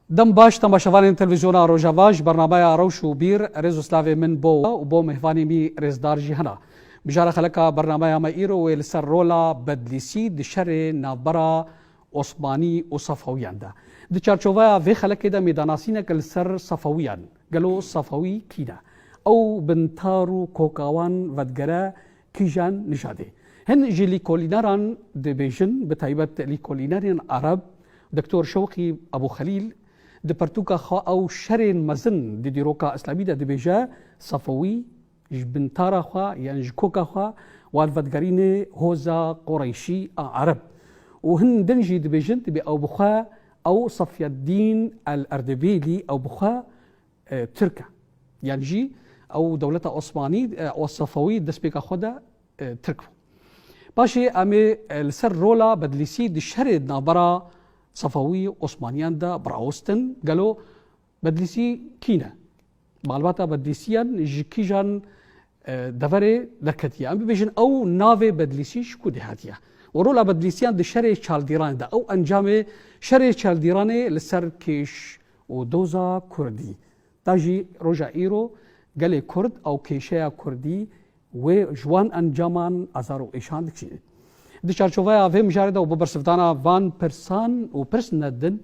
Dem baş temaşevanên Televîzyona Rojava ji bernameya Rewş û Bîr rêz û slavê min bo we û bo mêhvanê mî rêzdar jî hena. Mijara xeleka bernameya me îro wê li ser rola Bedlîsî di şerê navbera Osmanî û Safewiyan de. Di çarçoveya vê xelekê de mêdanasîneke li ser Safewiyan, gelo Safewî kî ne? Ew bintar û koka wan vedigere kîjan nijadê. Hin ji lîkolîneran dibêjin, bi taybet lîkolînerên Arab, Doktor Şewqî Ebûxelîl di pirtûka xwe ew şerên mezin di dîroka îslamî de dibêje, Safewî ji bintara xwe yan ji koka xwe wan vedigerîne hoza Qureyşî a Arab û hin din jî dibêjin dibê ew bi xwe ew Safyeddîn El-Erdebîlî ew bi xwe Tirk e. Yan jî ew dewleta Osmanî û Sefewî destpêka xwe de Tirk bû. Paşê em ê li ser rola Bedlîsî di şerê di navbera Sefewî û Osmaniyan de birawestin. Gelo Bedlîsî kî ne? Malbata Bedlîsiyan ji kîjan Deverê neketiye. Em bibêjin ew navê Bedlîsî ji ku dê hatiye. Û rola Bedlîsiyan di şerê çaldîranê de ew encamê şerê çaldîranê li ser kêş û doza Kurdî da jî roja îro gelê Kurd ew kêşeya Kurdî wê ji wan encaman azar û êşan dikşînin. Di çarçoveya vê mijarê de û bi bersivdana van pirsan û pirs nedin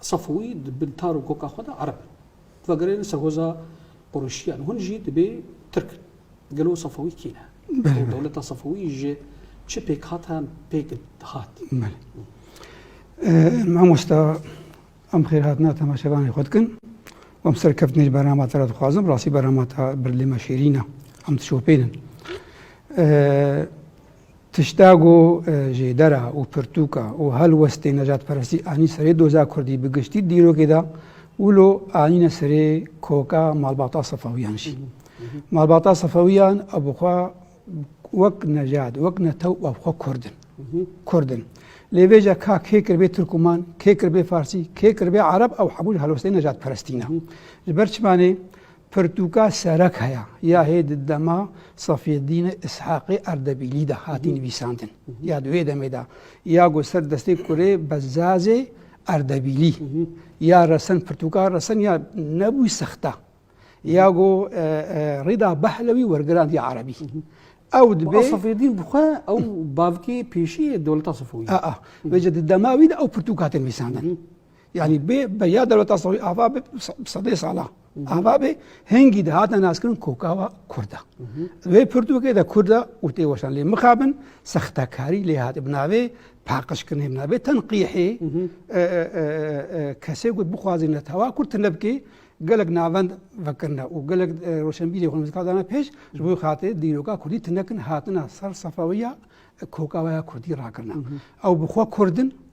Safûî di bin tar û goka xwe de ereb in. Vegereyên ser hoza Qurêşîyan hûn jî dibê tirk in. Gelo Safûî kî ne? Û dewleta Safûî ji çi pêk hat an pêk dihat? Belê. Mamosta em xêrhatina temaşevanê xwe dikin. Û em serkeftinê ji berama te re dixwazim. Rastî berama te berdê me şêrîn e. Em dişopênin. Tişta ku jêdera û pirtûka û helwestên nejatperestî anî serê doza kurdî bi giştî dîrokê de wilo anîne serê koka malbata Sefewiyan jî. Malbata Sefewiyan ev xwe wek nejat, wek netew ev xwe kurd in. Kurd in. Lê vêca ka kê kiribê Tirkuman, kê kiribê Farsî, kê kiribê Ereb ew hemû ji helwestên nejatperestî ne. Ji ber çima nê? Pirtûka serek heya ya hê di dema Safîeddîn Îshaqê Erdebîlî de hatî nivîsandin. Ya di wê demê de ya ku ser destê kurê Bezzazê Erdebîlî ya resen pirtûka resen ya nebû sexta. Ya ku Rîda Behlewî wergirandiye erebî. Ew dibe Safîeddîn bixwe ew bavkê pêşî yê dewleta Sefûyî. Aa, vêce di dema wî de ew pirtûka hatin nivîsandin. Yani bê be ya dewleta Sawî ava be sedê sala. Ava be hengî de hate naskirin kokava Kurda. Wê Pirtûkê de Kurda û tê weşan lê mixabin sextekarî lê hate bi navê paqişkirinê bi navê tenqîhê kesê ku bixwazî netewa Kurd tine bikê gelek navend vekirine û gelek roşenbîrê xwe mizika dana pêş ji bo xatirê dîroka Kurdî tinekin hatina ser sefawiya kokavaya Kurdî rakirina. Ew bi xwe Kurdin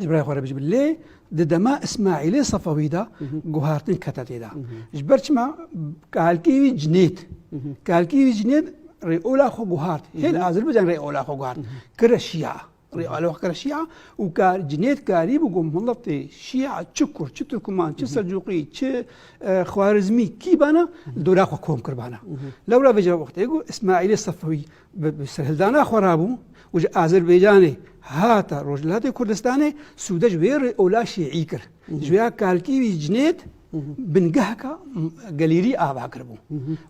ji birayê xwe re bijî lê di dema Îsmaîlê Sefewî de guhartin kete têda. Ji ber çima kalkî wî cinêt. Kalkî wî cinêt rê ola xwe guhart. Hêl Azerbaycan rê ola xwe guhart. Kire şiya. Rê ola xwe kire şiya û kar cinêt karî bû ku miletê şiya çi kur, çi Tirkman, çi Selcuqî, çi Xwarizmî kî bana dola xwe kom kir bana. Lewra vê ji wextê ku Îsmaîlê Sefewî bi serhildana xwe rabû û ji Azerbaycanê hata Rojhilatê Kurdistanê sûde ji wê rê ola şîî kir. Ji wê ya kalkî wî cinêt bingehka gelîrî ava kiribû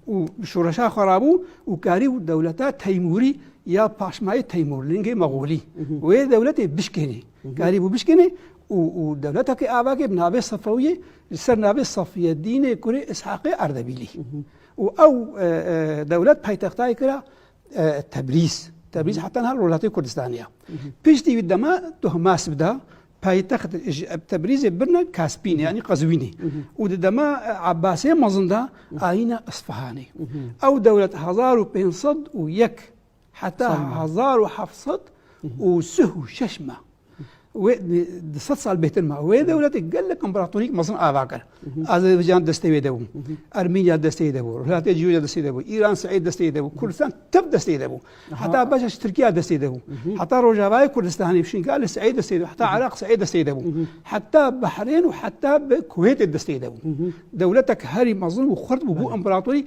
û bi şoreşa xwe rabû û karî û dewleta Teymûrî ya paşmayê Teymûrlingê Mexûlî wê dewletê bişkênê. Karî bû bişkênê û û dewletekê avakê bi navê Sefewiyê li ser navê Safiyedînê kurê Îshaqê Erdebîlî. û ew dewlet paytextayê kira Tebrîz. Tebrîz heta niha Rojhilatê Kurdistanê ye. Piştî wî dema Tohmasb da paytext ji Tebrîzê birine Kaspînê yanî Qezwînê û di dema Ebasê mezin da ayîne Isfihanê. Ew dewlet hezar û pênc sed û yek Heta hezar û heft sed û sih û şeş me wê di sed sal bêtir me wê dewletê gelek împaratorîk mezin ava kir. Azerbaycan destê wê de bû. Ermînya destê de bû. Rûyatê Cûrya destê de bû. Îran Seîd destê de bû. Kurdistan tep destê de bû. Heta beşa ji Tirkiya destê de bû. Heta Rojavayê Kurdistanê şînka li Seîd destê de heta Iraq Seîd destê de bû. Heta Behrên û heta bi Kuwêtê destê de bû. Dewletek herî mezin û xurt bû bû împaratorî